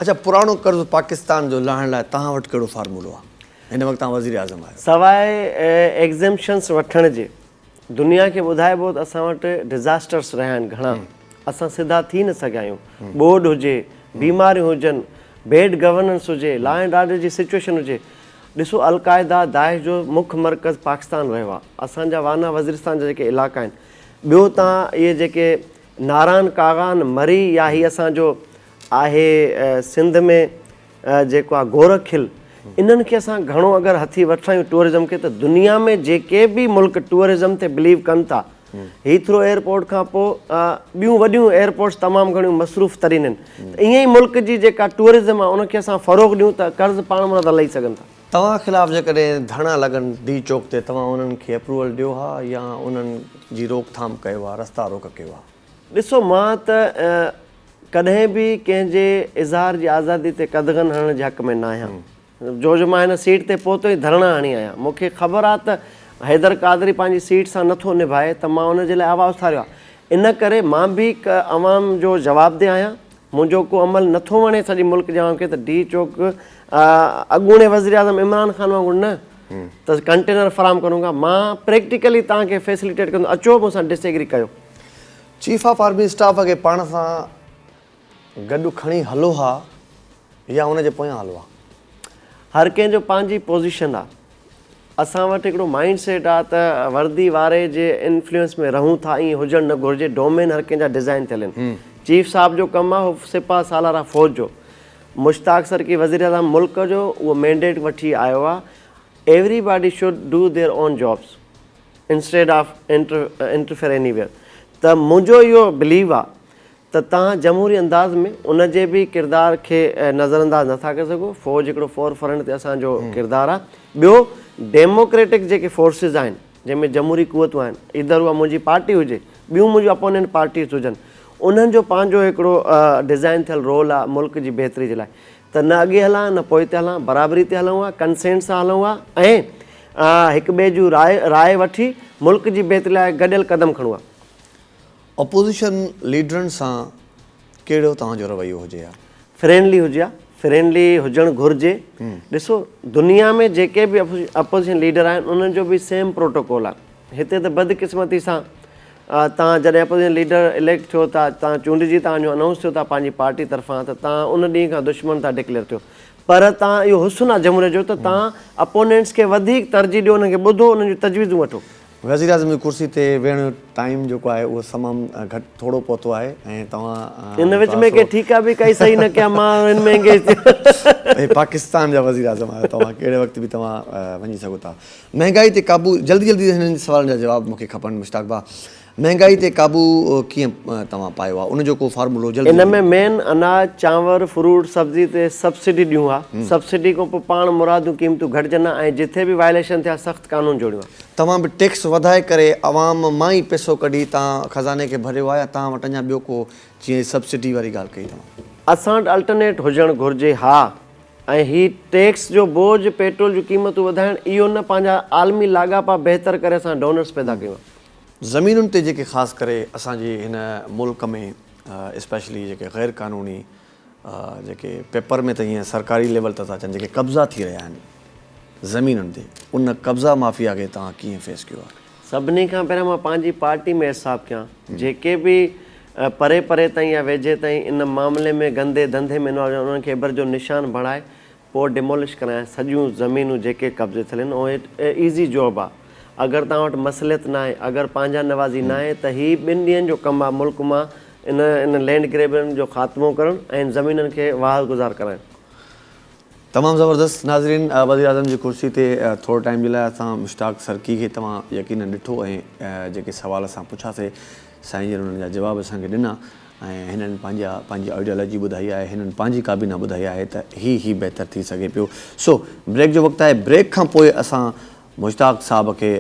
اڇا پراڻو قرض پاڪستان جو لاهڻ لاء توهان وٽ ڪهڙو فارمولو آ؟ هن وقت توهان وزير اعظم آهيو. سواء ايگزيمپشنس وٺڻ جي دنيا کي ٻڌائبو ته اسان وٽ ڊزاسٽرس رهيا آهن گهڻا اسان سڌا ٿي نه سگهيا آهيون ٻوڏ هجي بيماريون هجن بيڊ گورننس هجي لا اينڊ آرڊر جي سچوئيشن هجي ڏسو القاعده داعش جو مک مرڪز پاڪستان رهيو آهي اسان جا وانا وزيرستان جا جيڪي علائقا آهن ٻيو تان اهي جيڪي ناران ڪاغان مري يا هي اسان جو آهي سنڌ ۾ جيڪو آ گورک کل انهن کي اسان گهڻو اگر هٿي وٺرايون ٽوئرزم کي ته دنيا ۾ جيڪي به ملڪ ٽوئرزم تي بليو ڪن ٿا هيٿرو ايئرپورٽ کان پو ٻيون وڏيون ايئرپورٽس تمام گهڻيون مصروف ترين آهن ته ايئن ئي ملڪ جي جيڪا ٽوئرزم آ ان کي اسان فروغ ڏيون ته قرض پاڻ مون ته لهي سگهن ٿا. توهان خلاف جيڪڏهن ڌرڻا لڳن ڊي چوڪ تي توهان انهن کي اپروول ڏيو ها يا انهن جي روڪ ٿام ڪيو ها رستا روڪ ڪيو ها؟ ڏسو مان ته ڪڏهن به ڪنهن جي اظهار جي آزادي تي قدغن هڻڻ جي حق ۾ نه آهيان جو جو مان هن سيٽ تي پهتو ئي ڌرڻا هڻي آهيان مون کي خبر آهي ته حيدر قادري پنهنجي سيٽ سان نٿو نڀائي ته مان ان جي لاء آواز اٿاريو آهي ان ڪري مان به هڪ عوام جو جوابده آهيان منهنجو ڪو عمل نٿو وڻي سڄي ملڪ جي عوام کي ته ڊي چوڪ اڳوڻي وزيراعظم عمران خان وانگر نه ته ڪنٽينر فراهم ڪرون گا مان پريڪٽيڪلي توهان کي فيسليٽيٽ ڪندو اچو مون سان ڊس ايگري ڪيو چيف آف آرمي اسٽاف کي پاڻ سان گڏ کڻي هلو ها يا ان جي پويان هلو ها. هر ڪنهن جو پنهنجي پوزيشن آ. اسان وٽ هڪڙو مائنڊ سيٽ آ ته وردي واري جي انفلوئنس ۾ رهون ٿا ائين هجڻ نه گهرجي ڊومين هر ڪنهن جا ڊزائن ٿيل ان. چيف صاحب جو ڪم آ هو سپهه سالار آ فوج جو. مشتاق سرڪي وزيراعظم ملڪ جو اهو مينڊيٽ وٺي آيو آ. Everybody should do their own jobs. Instead of interfere anywhere ته منهنجو اهو بليو آ ته توهان جمهوري انداز ۾ ان جي به ڪردار کي نظر انداز نه ٿا ڪري سگهو فوج هڪڙو فور فرنٽ تي اسان جو ڪردار آ ٻيو ڊيموڪريٽڪ جيڪي فورسز آهن جنهن ۾ جمهوري قوتون آهن ايڌر اها منهنجي پارٽي هجي ٻيون منهنجون اپونينٽ پارٽيز هجن انهن جو پنهنجو هڪڙو ڊزائن ٿيل رول آ ملڪ جي بهتري جي لاء ته نه اڳي هلان نه پوئتي هلان برابري تي هلون ها ڪنسينٽ سان هلون ها ۽ هڪ ٻئي جون راء راء وٺي ملڪ جي بهتري لاء گڏيل قدم کڻون ها. اپوزيشن ليڊرن سان ڪهڙو توهان جو رويو هجي ها؟ فرينڊلي هجي ها فرينڊلي هجڻ گهرجي ڏسو دنيا ۾ جيڪي به اپوزيشن ليڊر آهن انهن جو به سيم پروٽوڪول آهي هتي ته بدقسمتي سان توهان جڏهن اپوزيشن ليڊر اليڪٽ ٿيو ٿا توهان چونڊجي توهان جو انائونس ٿيو ٿا پنهنجي پارٽي طرفان ته توهان ان ڏينهن کان دشمن ٿا ڊڪليئر ٿيو پر توهان اهو حسن آهي جمهوريت جو ته توهان اپونينٽس کي وڌيڪ ترجيح ڏيو انهن کي ٻڌو انهن جون تجويزون وٺو. وزيراعظم جي ڪرسي تي ويهڻ جو ٽائيم جيڪو آهي اهو تمام گهٽ ٿورو پهتو آهي ۽ توهان ان وچ ۾ ڪي ٺيڪا به ڪئي صحيح نه ڪيا مان هن ۾ انگيج ٿيو. هي پاڪستان جا وزيراعظم آهيو توهان ڪهڙي وقت به توهان وڃي سگهو ٿا مهنگائي تي قابو جلدي جلدي هنن سوالن جا جواب مونکي کپن مشتاق ڀاء مهنگائي تي قابو ڪيئن توهان پايو آهي ان جو ڪو فارمولو جلدي ان ۾ مين اناج چانور فروٽ سبزي تي سبسڊي ڏيون ها سبسڊي کان پو پاڻ مرادون قيمتون گهٽجن ها ۽ جٿي به وائليشن ٿي ها سخت قانون جوڙيون ها. توهان به ٽيڪس وڌائي ڪري عوام مان ئي پيسو ڪڍي تان خزاني کي ڀريو آهي يا توهان وٽ اڃا ٻيو ڪو جيئن سبسڊي واري ڳالهه ڪئي توهان. اسان وٽ الٽرنيٽ هجڻ گهرجي ها. ۽ هي ٽيڪس جو بوجهه، پيٽرول جون قيمتون وڌائڻ، اهو نه پنهنجا عالمي لاڳاپا بهتر ڪري اسان ڊونرز پيدا ڪيون ها. زمينن تي جيڪي خاص ڪري اسان جي هن ملڪ ۾ اسپيشلي جيڪي غير قانوني جيڪي پيپر ۾ ته ائين سرڪاري ليول ته ٿا اچن جيڪي قبضا ٿي رهيا آهن زمينن تي ان قبضا مافيا کي توهان ڪيئن فيس ڪيو آهي؟ سڀني کان پهريان مان پنهنجي پارٽي ۾ احتساب ڪيان جيڪي به پري پري تائين يا ويجهي تائين ان معاملي ۾ گندي ڌنڌي ۾ انوالو هجن انهن کي ابر جو نشان بڻائي پوء ڊيمولش ڪرايان سڄيون زمينون جيڪي قبضي ٿيل آهن ۽ اٽ ايزي جوب آهي اگر توهان وٽ مصلحت ناهي اگر پنهنجا نوازي ناهي ته هي ٻن ڏينهن جو ڪم آهي ملڪ مان ان ان لينڊ گريبرن جو خاتمو ڪرڻ ۽ ان زمينن کي واهر گذار ڪرائڻ. تمام زبردست ناظرين وزيراعظم جي ڪرسي تي ٿوري ٽائيم جي لاء اسان مشتاق سرڪي کي توهان يقينن ڏٺو ۽ جيڪي سوال اسان پڇا سي سائين جن انهن جا جواب اسان کي ڏنا ۽ هنن پنهنجا پنهنجي آئيڊيالوجي ٻڌائي آهي هنن پنهنجي ڪابينا ٻڌائي آهي ته هي هي بهتر ٿي سگهي پيو سو بريڪ جو وقت آهي بريڪ کان پوء اسان مشتاق صاحب کي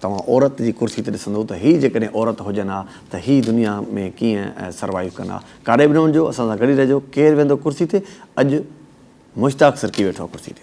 توهان عورت جي ڪرسي تي ڏسندو ته هي جيڪڏهن عورت هجن ها ته هي دنيا ۾ ڪيئن سروائيو ڪن ها. ڪاڏي به نه وڃجو اسان سان گڏ ئي رهجو. ڪير ويهندو ڪرسي تي؟ اڄ مشتاق سرڪي ويٺو آهي ڪرسي تي.